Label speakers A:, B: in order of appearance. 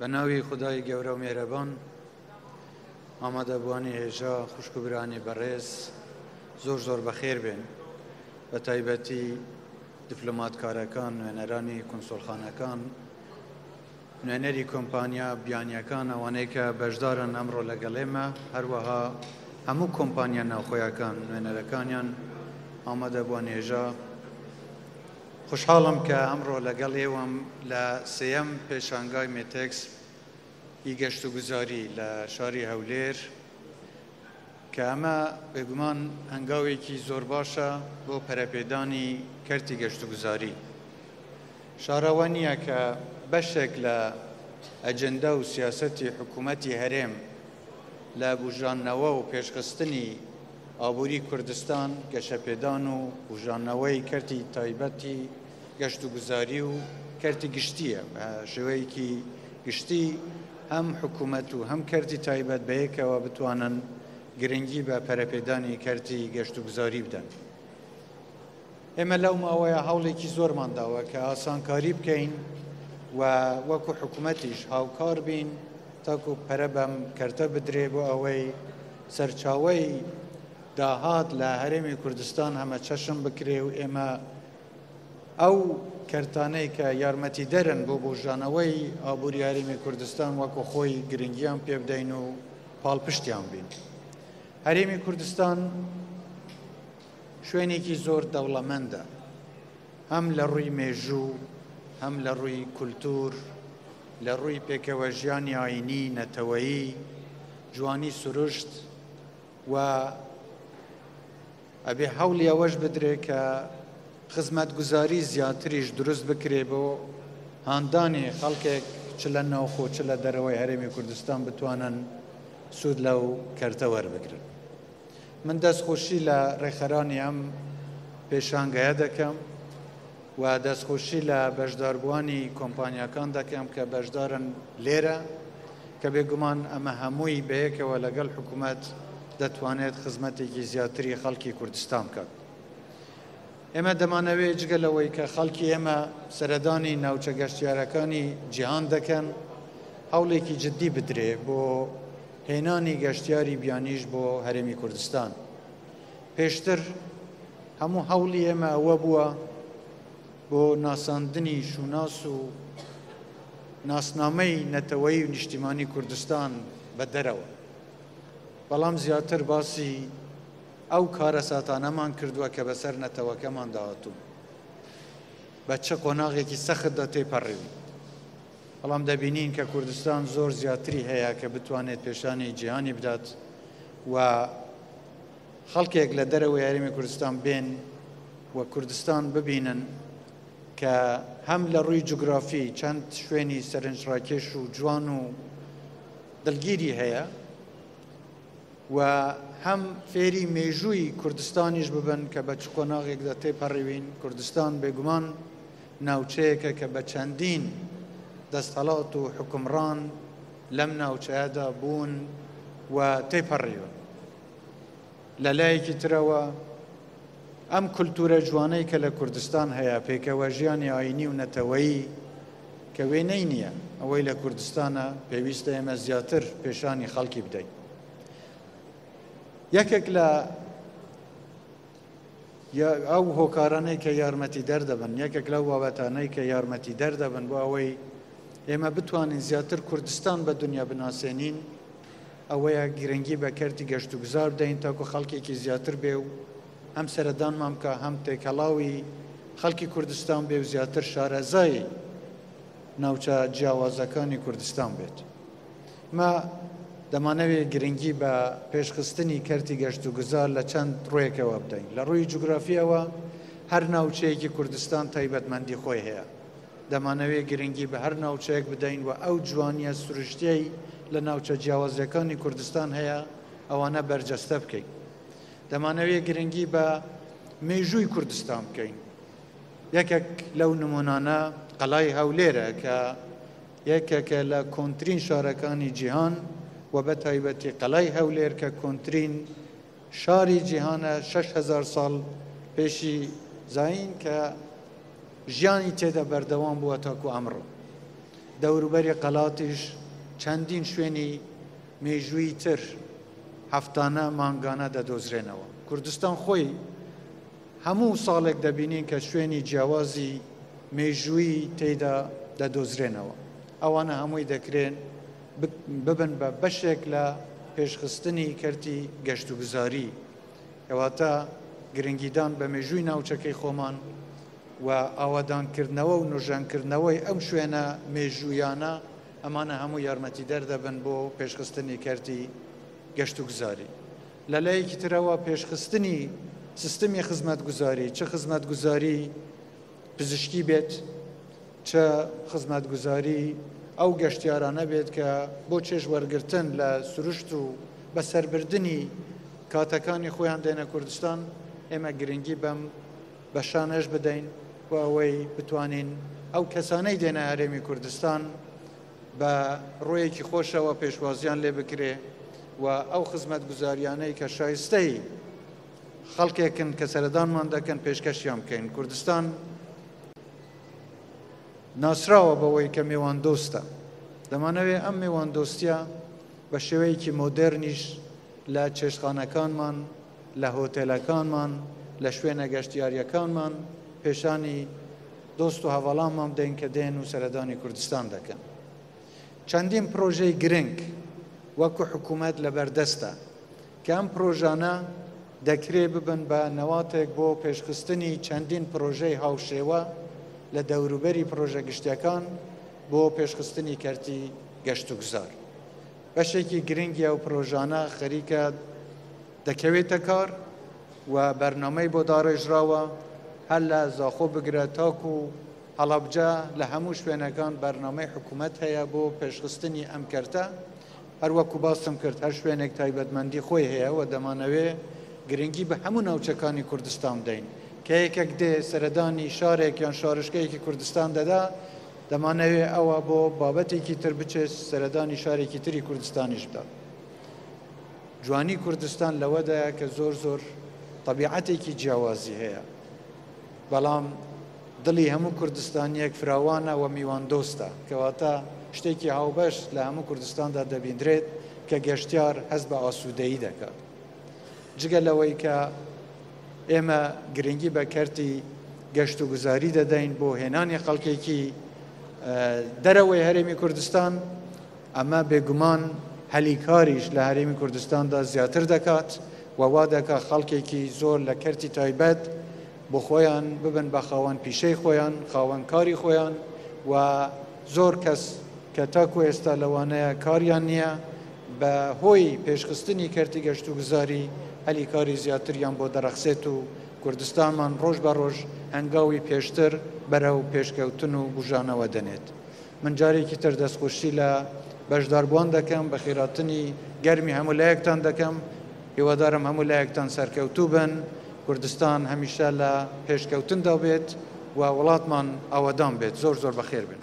A: بە ناوی خدای گەورە و مێرەبان ئامادەبووانی هێژا خوشک و برانی بەڕێز زۆر زۆر بەخێر بێن بە تایبەتی دیفلۆماتکارەکان نوێنەرانی کنسۆلخانەکان نوێنەری کۆمپانیا بیانیەکان ئەوانەی کە بەشدارن ئەمڕۆ لەگەڵێمە هەروەها هەموو کۆمپانیا ناوخۆیەکان نوێنەرەکانیان ئامادەبووان هێژا خۆشحاڵم کە ئەمڕۆ لەگەڵ ئێوەم لە سێیەم پێشانگای مێتێکس ی گەشت و گوزاری لە شاری هەولێر کە ئەمە بێگومان هەنگاوێکی زۆر باشە بۆ پەرەپێدانی کەرتی گەشت و گوزاری شارەوە نییە کە بەشێک لە ئەجندا و سیاسەتی حکوومەتی هەرێم لە بژاننەوە و پێشخستنی ئابووری کوردستان، گەشەپێدان و بوژانەوەی کەرتی تایبەتی گەشتوگوزاری و کەرتی گشتییە. بە شێوەیەکی گشتی هەم حکوومەت و هەم کەرتی تایبەت بەیەکەوە بتوانن گرنگی بە پەرەپێدانی کەرتی گەشتوگوزاری بدەن. ئێمە لەو ماوەیە هەوڵێکی زۆرمان داوە کە ئاسانکاری بکەین و وەکو حکوومەتیش هاوکار بین تاکو پەرە بەم کەرتە بدرێ بۆ ئەوەی سەرچاوی داهات لە هەرێمی کوردستان هەمە چەشم بکرێ و ئێمە ئەو کەرتانەی کە یارمەتی دەرن بۆ بۆژانەوەی ئابووری یاریمی کوردستان وەکو خۆی گرنگیان پێ بدەین و پاڵپشتیان بین هەرێمی کوردستان شوێنێکی زۆر دەوڵەمەندە هەم لە ڕووی مێژوو هەم لە ڕووی کولتور لە ڕووی پێکەوە ژیانی ئاینی نەتەوەیی جوانی سروشت و ئەبێ هەوڵی ئەوەش بدرێت کە خزمەتگوزاری زیاتریش دروست بکرێ بۆ هاندانی خەڵکێک چ لە ناوخۆ چ لە دەرەوەی هەرێمی کوردستان بتوانن سوود لەو کەرتە وەربگرن. من دەست خۆشی لە ڕێکخەرانی ئەم پێشانگەیە دەکەم و دەست خۆشی لە بەشداربووانی کۆمپانیاکان دەکەم کە بەشدارن لێرە کە بێگومان ئەمە هەمووی بەیەکەوە لەگەڵ حکوومەت دەتوانێت خزمەتێکی زیاتری خەڵکی کوردستان بکات. ئێمە دەمانەوێت جگە لەوەی کە خەڵکی ئێمە سەردانی ناوچە گەشتیارەکانی جیهان دەکەن، هەوڵێکی جددی بدرێ بۆ هێنانی گەشتیاری بیانیش بۆ هەرێمی کوردستان. پێشتر هەموو هەوڵی ئێمە ئەوە بووە بۆ ناساندنی شوناس و ناسنامەی نەتەوەیی و نیشتیمانی کوردستان بە دەرەوە، بەڵام زیاتر باسی ئەو کارەساتانەمان کردووە کە بەسەر نەتەوەکەماندا هاتوون، بە چ قۆناغێکی سەختدا تێپەڕیوین، بەڵام دەبینین کە کوردستان زۆر زیاتری هەیە کە بتوانێت پێشانی جیهانی بدات و خەڵکێک لە دەرەوەی هەرێمی کوردستان بێن و کوردستان ببینن کە هەم لە ڕووی جوگرافی چەند شوێنی سەرنجڕاکێش و جوان و دڵگیری هەیە و هەم فێری مێژووی کوردستانیش ببن کە بە چ قۆناغێکدا تێپەڕیوین، کوردستان بێگومان ناوچەیەکە کە بە چەندین دەستهەڵات و حوکمڕان لەم ناوچەیەدا بوون و تێپەڕیون. لە لایەکی ترەوە ئەم کولتوورە جوانەی کە لە کوردستان هەیە، پێکەوەژیانی ئایینی و نەتەوەیی کە وێنەی نییە، ئەوەی لە کوردستانە، پێویستە ئێمە زیاتر پێشانی خەڵکی بدەین. یەکێک لە ئەو هۆکارانەی کە یارمەتیدەر دەبن، یەکێک لەو بابەتانەی کە یارمەتیدەر دەبن بۆ ئەوەی ئێمە بتوانین زیاتر کوردستان بە دنیا بناسێنین، ئەوەیە گرنگی بە کەرتی گەشتوگوزار بدەین تاکو خەڵکێکی زیاتر بێ و هەم سەردانمان بکا هەم تێکەڵاوی خەڵکی کوردستان بێ و زیاتر شارەزای ناوچە جیاوازەکانی کوردستان بێت. مە دەمانەوێت گرنگی بە پێشخستنی کەرتی گەشت و گوزار لە چەند ڕوێکەوە بدەین لە ڕووی جوگرافیەوە هەر ناوچەیەکی کوردستان تایبەتمەندی خۆی هەیە دەمانەوێت گرنگی بە هەر ناوچەیەک بدەین و ئەو جوانییە سروشتییەی لە ناوچە جیاوازییەکانی کوردستان هەیە، ئەوانە بەرجەستە بکەین. دەمانەوێت گرنگی بە مێژووی کوردستان بکەین. یەکێک لەو نمونانە قەلای هەولێرە کە یەکێکە لە کۆنترین شارەکانی جیهان و بە تایبەتی قەلای هەولێر کە کۆنترین شاری جیهانە شەش هەزار ساڵ پێشی زایین کە ژیانی تێدا بەردەوام بووە تاکو ئەمڕۆ دەوروبەری قەلاتیش چەندین شوێنی مێژووی تر هەفتانە مانگانە دەدۆزرێنەوە کوردستان خۆی هەموو ساڵێک دەبینین کە شوێنی جیاوازی مێژووی تێدا دەدۆزرێنەوە ئەوانە هەمووی دەکرێن ببن بە بەشێک لە پێشخستنی کەرتی گەشتوگوزاری، کەواتە گرنگیدان بە مێژووی ناوچەکەی خۆمان و ئاوادانکردنەوە و نۆژەنکردنەوەی ئەو شوێنە مێژوویانە، ئەمانە هەموو یارمەتیدەر دەبن بۆ پێشخستنی کەرتی گەشتوگوزاری. لە لایەکی ترەوە پێشخستنی سیستمی خزمەتگوزاری، چ خزمەتگوزاری پزیشکی بێت، چ خزمەتگوزاری ئەو گەشتیارانە بێت کە بۆ چێژ وەرگرتن لە سروشت و بەسەربردنی کاتەکانی خۆیان دێنە کوردستان، ئێمە گرنگی بەم بەشانەش بدەین بۆ ئەوەی بتوانین ئەو کەسانەی دێنە هەرێمی کوردستان بە ڕوویەکی خۆشەوە پێشوازیان لێ بکرێ و ئەو خزمەتگوزاریانەی کە شایستەی خەڵکێکن کە سەردانمان دەکەن پێشکەشیان بکەین کوردستان ناسراوە بەوەی کە مێوان دۆستە دەمانەوێت ئەم مێوان دۆستە بە شێوەیەکی مۆدررنیش لە چێشخانەکانمان لە هۆتێلەکانمان لە شوێنە گەشتیاریەکانمان پێشانی دۆست و هەواڵانمان بدەین کە دێن و سەردانی کوردستان دەکەن چەندین پرۆژەی گرنگ وەکو حکوومەت لە بەردەستە کە ئەم پرۆژانە دەکرێ ببن بە نەواتێک بۆ پێشخستنی چەندین پرۆژەی هاوشێوە لە دەوروبەری پرۆژە گشتیەکان بۆ پێشخستنی کەرتی گەشتوگوزار بەشێکی گرنگی ئەو پرۆژانە خەریکە دەکەوێتە کار و بەرنمەی بۆ داڕێژراوە هەر لە زاخۆ بگرە تاکو و هەڵبجە لە هەموو شوێنەکان بەرنمەی حکوومەت هەیە بۆ پێشخستنی ئەم کەرتە هەر وەکو باسم کرد هەر شوێنێک تایبەتمەندی خۆی هەیە و دەمانەوێ گرنگی بە هەموو ناوچەکانی کوردستان بدەین. کە یەکێک دێ سەردانی شارێک یان شارۆچکەیەکی کوردستان دەدا، دەمانەوێ ئەوە بۆ بابەتێکی تر بچێ سەردانی شارێکی تری کوردستانیش بدا. جوانی کوردستان لەوەدایە کە زۆر زۆر تەبیعەتێکی جیاوازی هەیە. بەڵام دڵی هەموو کوردستانییەک فراوانە و میواندۆستە، کەواتە شتێکی هاوبەش لە هەموو کوردستاندا دەبیندرێت کە گەشتیار هەست بە ئاسوودەیی دەکات. جگە لەوەی کە ئێمە گرنگی بە کەرتی گەشتوگوزاری دەدەین بۆ هێنانی خەڵکێکی دەرەوەی هەرێمی کوردستان، ئەمە بێگومان هەلی کاریش لە هەرێمی کوردستاندا زیاتر دەکات و وا دەکات خەڵکێکی زۆر لە کەرتی تایبەت بۆ خۆیان ببن بە خاوەن پیشەی خۆیان خاوەن کاری خۆیان و زۆر کەس کە تاکو ئێستا لەوانەیە کاریان نییە بە هۆی پێشخستنی کەرتی گەشت و گوزاری هەلی کاری زیاتریان بۆ دەرەخسێت و کوردستانمان ڕۆژ بە ڕۆژ هەنگاوی پێشتر بەرە و پێشکەوتن و بژانەوە دەنێت من جارێکی تر دەستخۆشی لە بەشداربووان دەکەم بە خێراتنی گەرمی هەمولایەکتان دەکەم هیوادارم هەموو لایەکتان سەرکەوتوو بن، کوردستان هەمیشە لە پێشکەوتندا بێت و وڵاتمان ئاوەدان بێت، زۆر زۆر بەخێر بێن.